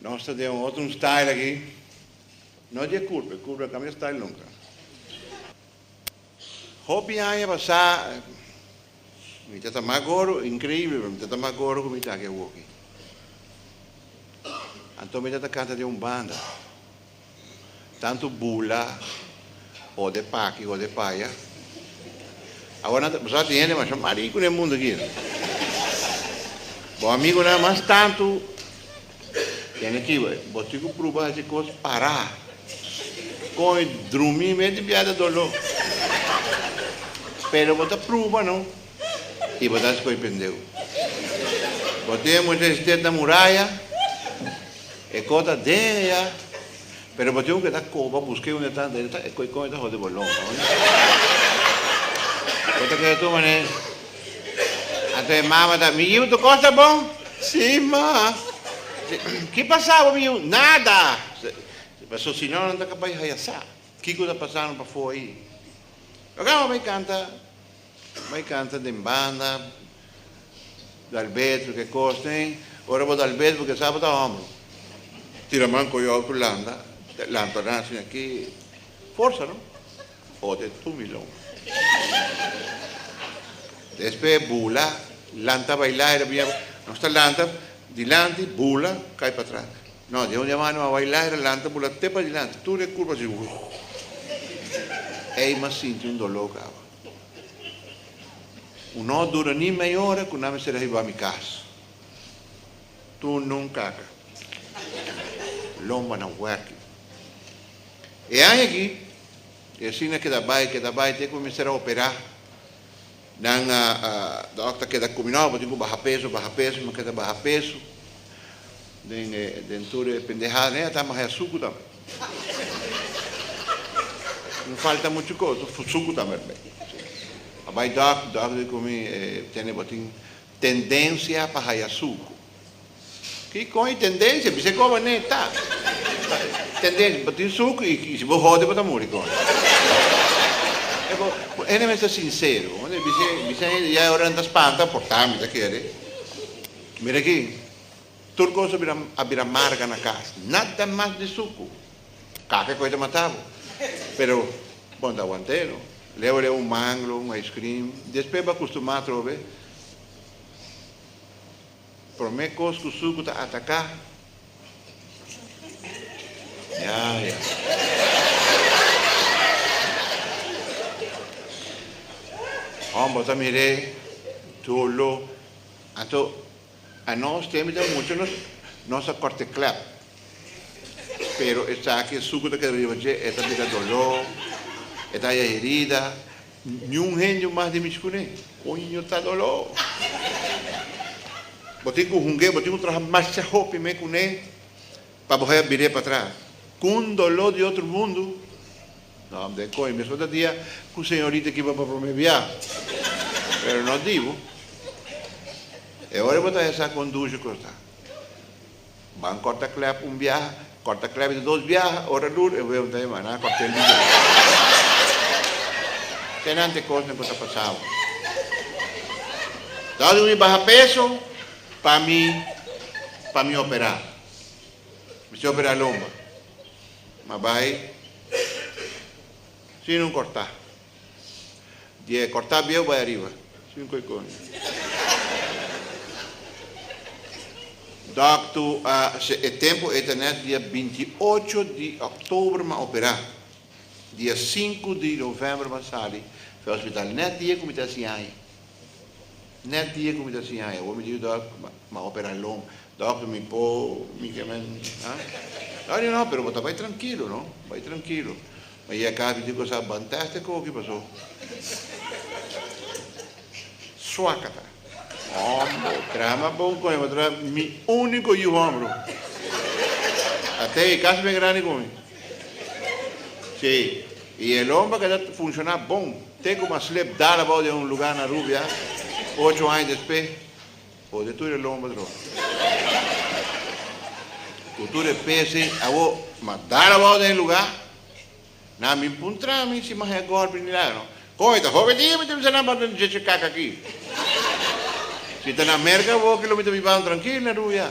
Nos ta den un otro un style aki. No di e curpa, e curpa no cambia style nunca. Hopi aña pasá mi ta ta mas gordo, increíble pero mi ta ta mas gordo cu mi ta aki awoki. Anto mi ta ta canta den un banda. Tantu bula o de paki o de paya. Awa nan ta pasá tin hende masha mari ku den mundu aki. Bo amigunan mas tantu den e kiba. Bo tin ku pruba hasi kos pará. Kon e drumi menti biaha ta doló. Pero bo ta pruba no. y bo ta scoy pendeu. Bo tin e mucha estet na muraya, e coh ta den eya, pero bo tin cu keda coh, bo a busca e unda e ta, e ta scoy con e ta hode bo long. Bo ta keda tuma ne, anto e mama ta, mi yiu tu cos ta bon? Si ma. Ki pasa bo mi yiu? Nada! Paso si no nan ta ka bay haya sa kico ta pasando pafo ayi. Oca bo a bay canta. Bo kanta den banda, dal bed, lo ke kos den. Ora bo dal bed, bo ke sa bo ta hombro. Tira man ku yo ku landa, lanta nan sin aki forsa no. Ot e tumi long. Despe bula, lanta baila e rabia. Nos ta lanta dilanti, bula, kai patras. No, di un dia mano a baila e lanta bula te padilanti. Tur e kurba si. Ey mas sinti un doló kawa. Un no dura ni mei ora ku nan mester a hiba mi kas. Tunun kaka. Lomba nan huerki. E aña aki, e asina keda bai, keda bai, te ku mi mester a operá. Nan dòkter keda komi, No, bo tin ku baha peso, baha peso. Mi keda baha peso. Den tur e pendehada, ne a tamahaya suku tambe. Mi falta muchu cos, so fusucu tambe bay. A bay dòk, dòk di cu mi e tene bo tin tendencia pa haya sucu. Ki coi tendencia? Bis'e cor bo nee ta. Tendencia, bo tin sucu y si bo hode bo ta muri con e. E bo, bo ene mester sincero, bo mester bis'e, bis'e ya e ora nan ta spanta, por ta mi ta kere. Mira aki. Tur cosa a bira marga na cas. Nada mas di sucu. Cafe cu e ta mata bo. Pero bon ta aguantae lo. Leu leu un manglo, un ice cream. Despues bo a custuma atrobe. Prome cos cu sucu ta ataca. Ya, ya. Con bo ta mire dolo. Anto A nos tembe ta mucha nos nos a corte clep pero esaki e sucu ta keda riba dje e ta bira doló e ta haya herida niun hende mas di mi scune coño ta doló bo tin cu hunge bo tin cu traha masha hopi me cune pa bo haya bire patras cu un doló di otro mundo. Nan den koe mesmo ta dia ku señorita kiba pa prome bia. Pero no dibu. E ora bo ta hesá kondushe kostá. Ban kòrta klèp un biaha, kòrta klèp di dos biaha, ora lur e wew ta hima, nan kòrt'é liga di dos biaha. Kenan t'e kosnan ku ta pasá bo. Dal di mi baha peso pa mi pa mi operá. Mester operá lomba. Ma bai Sin un corta. Di e corta bieu bai ariba. Sin un coicoño. Doctu a hasi e tempo e tenet dia binti ocho di october m'a opera. Dia sinku di november m'a sali. Fe hospital net di e cu mi ta hasi ai. Net die cu mi ta siña e omi di yu dòkter, m'a opera long, dòkter mi po mi ke men ha? Dòkter di no, pero bo ta bai trankilo no, bai trankilo. Mi a yega casa mi dico sa ban test e koki paso suak a ta. Hombre, traha mas bon con e otro mi unico yu hombre. A ta e casa bien grandi con mi. Sí, y el homber que ta funciona bon te como a slep dal abao den un lugar na Rubia, ocho aña despe bo te tur e lomber tro. Cu tur e pese awo ma dal abao den e lugar, nan bin puntra mi si mahe a golpe ni naga no. Con e ta hopi dia mi ta bisa nan banta djeche caca aki. Si ta na America bo, kilo mi ta bibanan trankil na Rubia.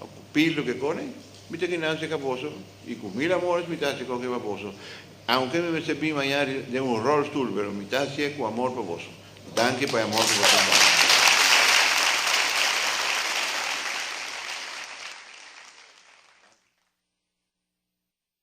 A cu pil lo que cone, mi ta kina haci ca boso, y cu mil amores mi ta haci coke pa boso, aunke mi mester bin maña den un rolstoel, pero mi ta haci'e cu amor pa boso. Danki pa e amor cu bo tin pa mi.